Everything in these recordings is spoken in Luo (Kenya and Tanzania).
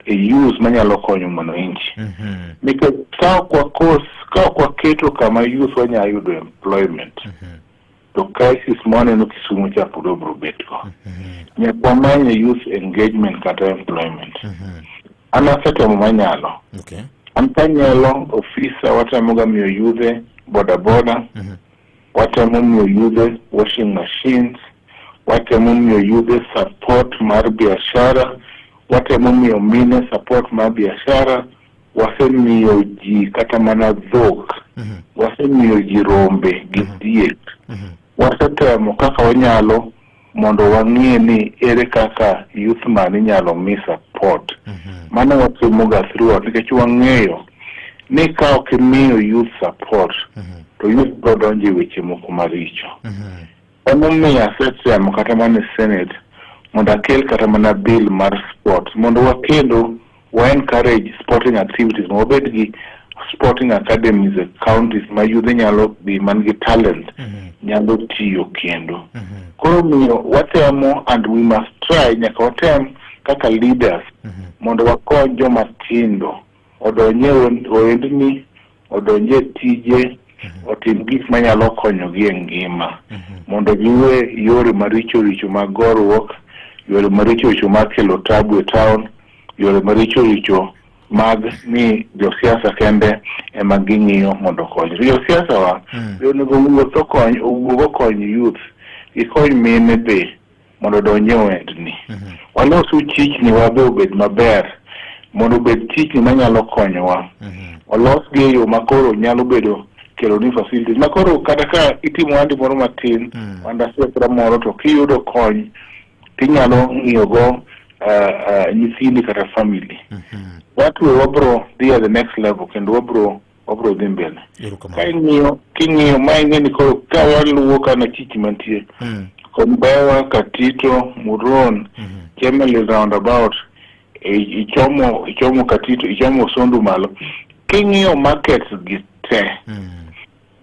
e use manyalo konyo mwananchi mm -hmm. nikech ka ok wakos ka ok waketo kama youth wanyalo yudo employment mm -hmm. to crisis mwaneno Kisumu cha pod obro betgo mm -hmm. nyaka wamanye youth engagement kata employment mm -hmm. an asetemo manyalo okay. an kanyalo ofisa watamoga miyo yudhe bodaboda mm -hmm. watemo miyo yudhe washing machines, watemo miyo yudhe support mar biashara, watemo miyo mine support mar biashara, wasemiyo ji kata mana dhok, Mhm. wasemiyo ji rombe gi diek, wasetemo kaka wanyalo mondo wang'e ni ere kaka youth man inyalo mi support mano watimoga throughout nikech wang'eyo ni ka ok imiyo youth support to youth biro donjo e weche moko maricho emomiyo asetemo kata mana e senate mondo akel kata mana bill mar sport mondo wakendo Wa encourage sporting activities ma wabed gi sporting academies e counties ma yudhe nyalo dhi man gi talent mhm. nyalo tiyo kendo mhm. koro miyo watemo and we must try nyaka watem kaka leaders mhm. mondo wakony joma tindo odonye oendni odonje tije mhm. otim gik manyalo konyogi e ngima mhm. mondo giwe yore maricho richo mag goruok yore maricho richo mag kelo tabu e town yore maricho richo mag ni josiasa kende ema ging'iyo mondo okony josiasa wa mm. onego wuoth okony owuog okony youth gikony mine be mondo odonje wendni. Mhm. Walosu chichni wabe obed maber mondo obed chichni manyalo konyowa. Mhm. Olos gi e yo makoro nyalo bedo kelo ni facilities makoro kata ka itimo wandi moro matin mm. wanda siasira moro to kiyudo kony tinyalo ng'iyogo uh, uh, nyithindi kata family mm -hmm. watuwe wabro dhi at the next level kendo wabro wabiro dhi mbele ka ing'iyo king'iyo ma ing'e ni koro ka waluwo kana chich mantie mm. Kombewa, Katito, Muron, mm -hmm. Chemelil roundabout e, ichomo ichomo Katito ichomo Sondu malo king'iyo market gi te mm.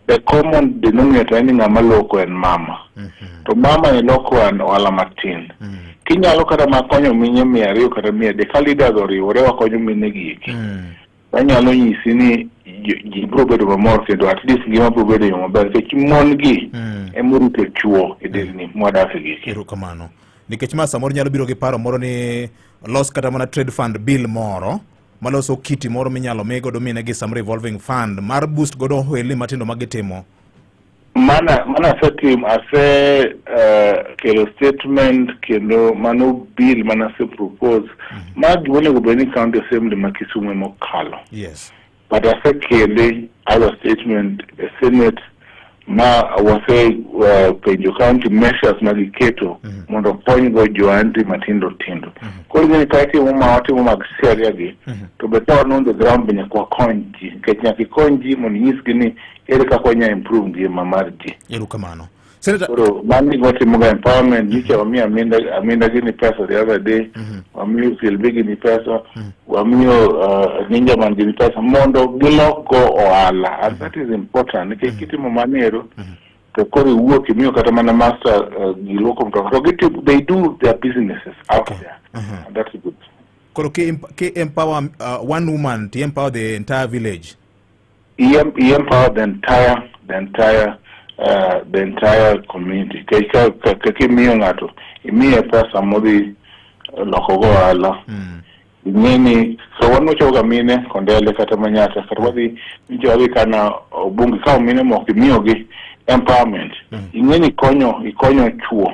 the common denominator ni ng'ama loko en mama mm -hmm. to mama e loko an ohala matin mm. kinyalo kata makonyo mine mia ariyo kata mia adek ka leaders oriwore wakonyo mine gi eki mm. Wanyalo nyisi ni ji- ji biro bedo mamor kendo at least ngima biro bedo e yo maber nikech mon gi Mm. ema orito chuo e delni mwadak e gigi. erokamano nikech ma samoro nyalo biro gi paro moro ni los kata mana trade fund bill moro maloso kiti moro minyalo mi godo mine gi some revolving fund mar boost godo ohelni matindo ma gitimo Mana mana asetim ase uh, kelo statement kendo mano bill mana ase propose mm -hmm. ma gima onego bed ni county assembly ma Kisumu ema okalo yes. but asekele our statement e senate ma wase uh, penjo county measures ma giketo mm -hmm. mondo okonygo joanti matindo tindo mm -hmm. koro gini ka itimo ma watimo mag seria gi mm -hmm. to be ka wan on the ground be nyaka wakony ji nikech nyaka ikony ji mondo inyisgi ni Ere kaka wanya improve ngima mar ji? Erokamano. Senator Koro mano gima timoga empowerment nicha wamiyo aminda aminda gini pesa the other day wamiyo silbi gini pesa wamiyo uh, ninja man gini pesa mondo gilokgo ohala and that is important nikech kitimo manero to koro iwuok imiyo kata mana master uh, giluoko mtoka to gitimo they do their businesses out Okay. there Mhm. and that's good koro ke, emp- ke empower uh, one woman to empower the entire village. He, em- he empowered the entire the entire uh, the entire community Ka- ka- ka- kaka imiyo ng'ato imiye pesa modhi loko go ohala ing'eni ka wan wachoga mine kondele kata manyata kata wadhi jogi kana obunge ka mine moko imiyogi empowerment ing'eni ikonyo ikonyo chuo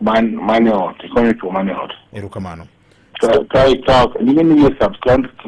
man mane ot ikonyo chuo mane ot erokamano ka ka ikawo ing'eni iye substance